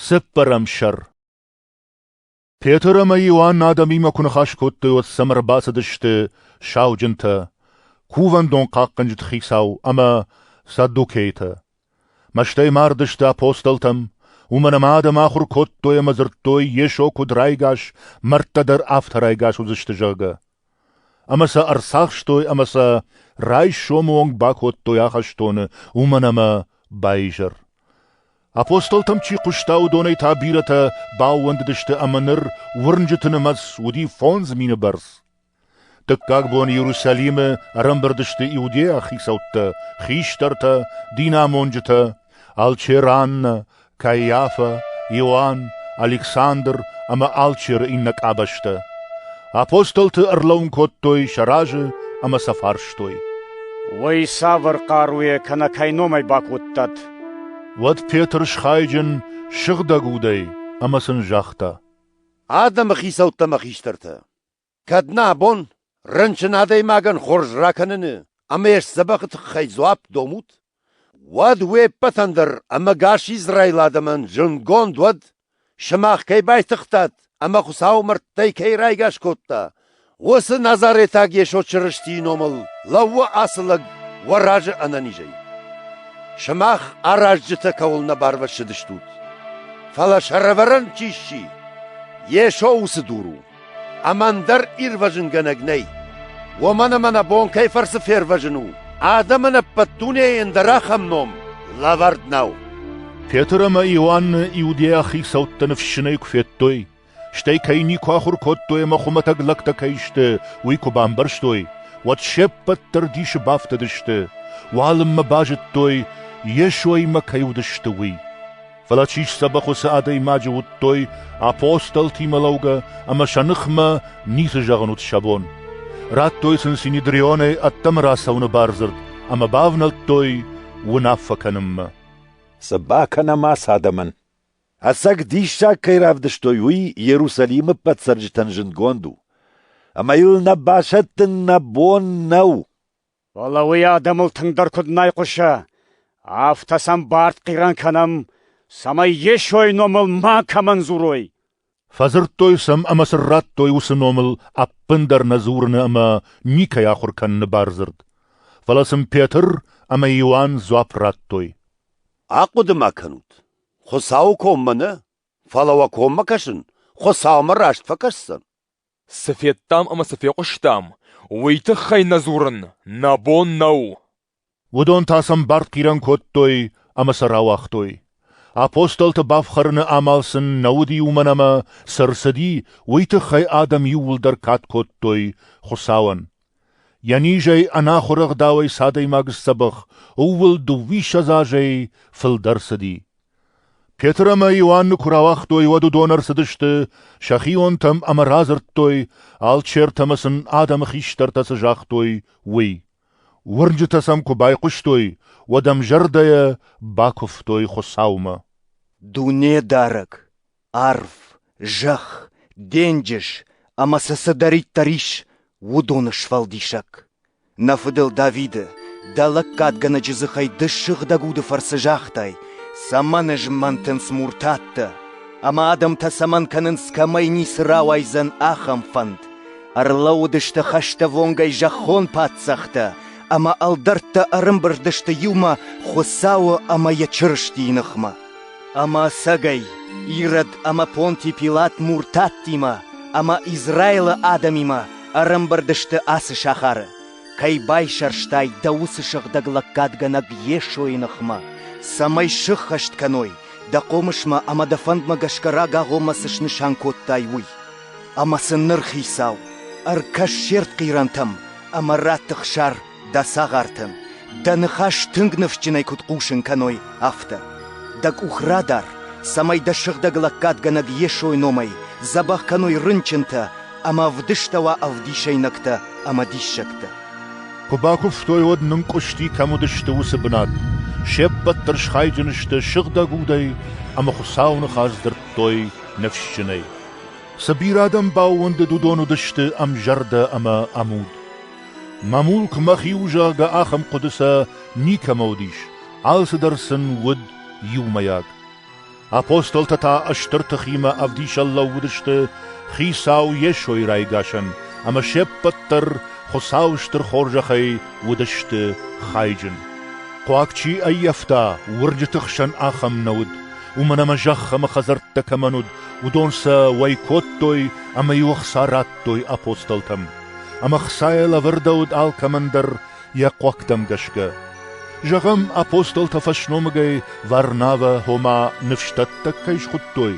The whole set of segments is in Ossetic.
Цыппӕрӕм сӕр Петр ӕмӕ Иоанн адӕмимӕ куы ныхас кодтой, уӕд сӕм ӕрбацыдысты сауджынтӕ, кувӕндон хъахъхъӕнджыты хицау ӕмӕ саддукейтӕ. Мӕстӕй мардысты апостолтӕм, уымӕн ӕмӕ адӕм ахуыр кодтой ӕмӕ дзырдтой, Йесо куыд райгас, мӕрдтӕ дӕр афтӕ райгас уыдзысты, зӕгъгӕ. Ӕмӕ сӕ ӕрцахстой ӕмӕ сӕ райсомы онг бакодтой ахӕстоны, уымӕн ӕмӕ баизӕр. Апостолтӕм чи хъуыста, уыдонӕй та бирӕтӕ баууӕндыдысты ӕмӕ ныр уырнджыты нымӕц уыди фондз мины бӕрц. Дыккаг бон Иерусалимы ӕрӕмбырд сты иудейаг хицӕуттӕ, хистӕртӕ, динамонджытӕ, алчераннӕ, Каиафӕ, Иоанн, Александр ӕмӕ алчеры иннӕ къабӕзтӕ. Апостолты ӕрлӕуын кодтой сӕ разы ӕмӕ сӕ фарстой. Уый цавӕр хъаруйӕ кӕнӕ кӕй номӕй бакодтат? Уӕд Петр схайджын, сыгъдӕг удӕй ӕмӕ сын загъта: Адӕмы хицӕуттӕ мӕ хистӕртӕ! Кӕд нӕ абон рынчын адӕймагӕн хорз ракӕныны ӕмӕ йӕ сдзӕбӕхы тыххӕй дзуапп домут, уӕд уе ппӕтӕн дӕр ӕмӕгас Израилы адӕмӕн зындгонд уӕд, сымах кӕй байтыгътат ӕмӕ Хуыцауы мӕрдтӕй кӕй райгас кодта, уыцы Назаретаг Йесо Чырыстийы номыл лӕууы ацы лӕг уӕ разы ӕнӕнизӕй. Сымах аразджытӕ кӕуыл нӕ барвӕссыдыстут, фӕлӕ сӕрӕвӕрӕн чи сси, Йесо уыцы дур у. Ӕма ӕндӕр ирвӕзунгӕнӕг нӕй. Уомӕн ӕма нӕ бон кӕй фӕрцы фервӕзун у, адӕмӕн ӕппӕт дунейӕн дӕр ахӕм ном лӕвӕрд нӕу. Петр ӕма Иоанны иудейаг хицӕуттӕ ныфссынӕй куы федтой, стӕй кӕй никуы ахуыр кодтой ӕмӕ хуымӕтӕг лӕгтӕ кӕй сты, уый куы бамбӕрстой, уӕд се ппӕт дӕр дисы бафтыдысты, уалынмӕ базыдтой, Йесоимӕ кӕй уыдысты, уый. Фӕлӕ чи сдзӕбӕх уыцы адӕймаджы уыдтой апостолтимӕ лӕугӕ ӕмӕ сӕ ныхмӕ ницы зӕгъын уыд сӕ бон. Радтой сын Синедрионӕй ӕддӕмӕ рацӕуыны бардзырд ӕмӕ бавнӕлдтой уынаффӕ кӕнынмӕ. Цы бакӕнӕм ацы адӕмӕн? Ӕцӕг диссаг кӕй равдыстой, уый Иерусалимы ӕппӕт цӕрджытӕн зындгонд у. Ӕмӕ йыл нӕ басӕттын нӕ бон нӕу. Фӕлӕ уый адӕмыл тынгдӕр куыд нӕ айхъуысы, афтӕ сӕм бард хъирӕн кӕнӕм, цӕмӕй Йесойы номыл макӕмӕн дзурой. Фӕдзырдтой сӕм ӕмӕ сын радтой уыцы номыл ӕппындӕр нӕ дзурыны ӕмӕ никӕй ахуыр кӕныны бардзырд. Фӕлӕ сын Петр ӕмӕ Иоанн дзуапп радтой. «Ахъуыды ма кӕнут, Хуыцауы коммӕ нӕ, фӕлӕ уӕ коммӕ кӕсын Хуыцаумӕ раст фӕкӕсдзӕн?» Цы федтам ӕмӕ цы фехъуыстам, уый тыххӕй нӕ дзурын нӕ бон нӕу. Уыдон та сӕм бартхъирӕн кодтой ӕмӕ сӕ рауагътой. Апостолты бафхӕрыны амал сын нӕ уыди уымӕн ӕмӕ, цы рцыди, уый тыххӕй адӕм иууылдӕр кад кодтой Хуыцауӕн. Йӕ низӕй ӕнахуыр ӕгъдауӕй цы адӕймаг сдзӕбӕх, ууыл дыууиссӕдз азӕй фылдӕр цыди. Петр ӕмӕ Иоанны куы рауагътой, уӕд уыдон ӕрцыдысты сӕхионтӕм ӕмӕ радзырдтой, алчертӕ ӕмӕ сын адӕмы хистӕртӕ цы загътой, уый. Уырнджытӕ сӕм куы байхъуыстой, уӕд ӕмзӕрдӕйӕ бакуывтой Хуыцаумӕ. Дунедарӕг, арв, зӕхх, денджыз ӕмӕ цы цыдӕриддӕр ис, уыдоны сфӕлдисӕг. Нӕ фыдыл Давиды, дӕ лӕггадгӕнӕджы дзыхӕй ды сыгъдӕг уды фӕрцы загътай, цӕмӕн ызмӕнтынц муртаттӕ, ӕмӕ адӕмтӕ цӕмӕн кӕнынц, кӕмӕй ницы рауайдзӕн, ахӕм фӕнд. Ӕрлӕууыдысты хӕстӕввонгӕй зӕххон паддзӕхтӕ, ӕмӕ ӕлдӕрттӕ ӕрымбырд сты иумӕ Хуыцауы ӕмӕ йӕ Чырыстийы ныхмӕ. Ӕма сӕгӕй, Ирод ӕма Понтий Пилат муртаттимӕ ӕма Израилы адӕмимӕ ӕрӕмбырд сты ацы сахары, кӕй байсӕрстай дӕ уыцы сыгъдӕг лӕггадгӕнӕг Йесойы ныхмӕ, цӕмӕй сыххӕст кӕной дӕ хъомысмӕ ӕмӕ дӕ фӕндмӕ гӕсгӕ рагагъоммӕ цы снысан кодтай, уый. Ӕмӕ сын ныр Хицау, ӕркӕс се ртхъирӕнтӕм ӕмӕ раттых сӕр Дӕ цагъартӕн дӕ ныхас тынг ныфсджынӕй куыд хъусын кӕной, афтӕ. Дӕ къух радар, цӕмӕй дӕ сыгъдӕг лӕггадгӕнӕг Йесойы номӕй дзӕбӕх кӕной рынчынтӕ ӕмӕ вдыстӕуа ӕвдисӕйнӕгтӕ ӕмӕ диссӕгтӕ. Куы бакуывтой, уӕд нынкъуысти, кӕм уыдысты, уыцы бынат. Се ппӕт дӕр схайджын сты сыгъдӕг удӕй ӕмӕ Хуыцауы ныхас дзырдтой ныфсджынӕй. Цы бирӕ адӕм баууӕндыд, уыдон уыдысты ӕмзӕрдӕ ӕмӕ ӕмуд. Мӕ мулк мӕхи у, зӕгъгӕ, ахӕм хъуыды сӕ никӕмӕ уыдис, алцыдӕр сын уыд иумӕйаг. Апостолтӕ та стыр тыхимӕ ӕвдисӕн лӕууыдысты Хицау Йесойы райгасӕн, ӕмӕ се ппӕт дӕр Хуыцауы стыр хорзӕхӕй уыдысты хайджын. Хъуаг чи ӕййӕфта, уырджыты хсӕн ахӕм нӕ уыд, уымӕн ӕмӕ зӕхх ӕмӕ хӕдзӕрттӕ кӕмӕн уыд, уыдон сӕ уӕй кодтой ӕмӕ-иу ӕхца радтой апостолтӕм. ӕмӕ Хцайӕ лӕвӕрдӕуыд алкӕмӕн дӕр йӕ хъуӕгтӕм гӕсгӕ. Зӕгъӕм, апостолтӕ фӕсномыгӕй Варнавӕ ома ныфсдӕттӕг кӕй схуыдтой,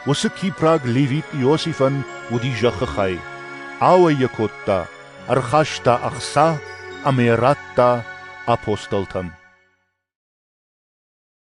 уыцы кипраг левит Иосифӕн уыди зӕххы хай. Ауӕй йӕ кодта, ӕрхаста ӕхца ӕмӕ йӕ радта апостолтӕн.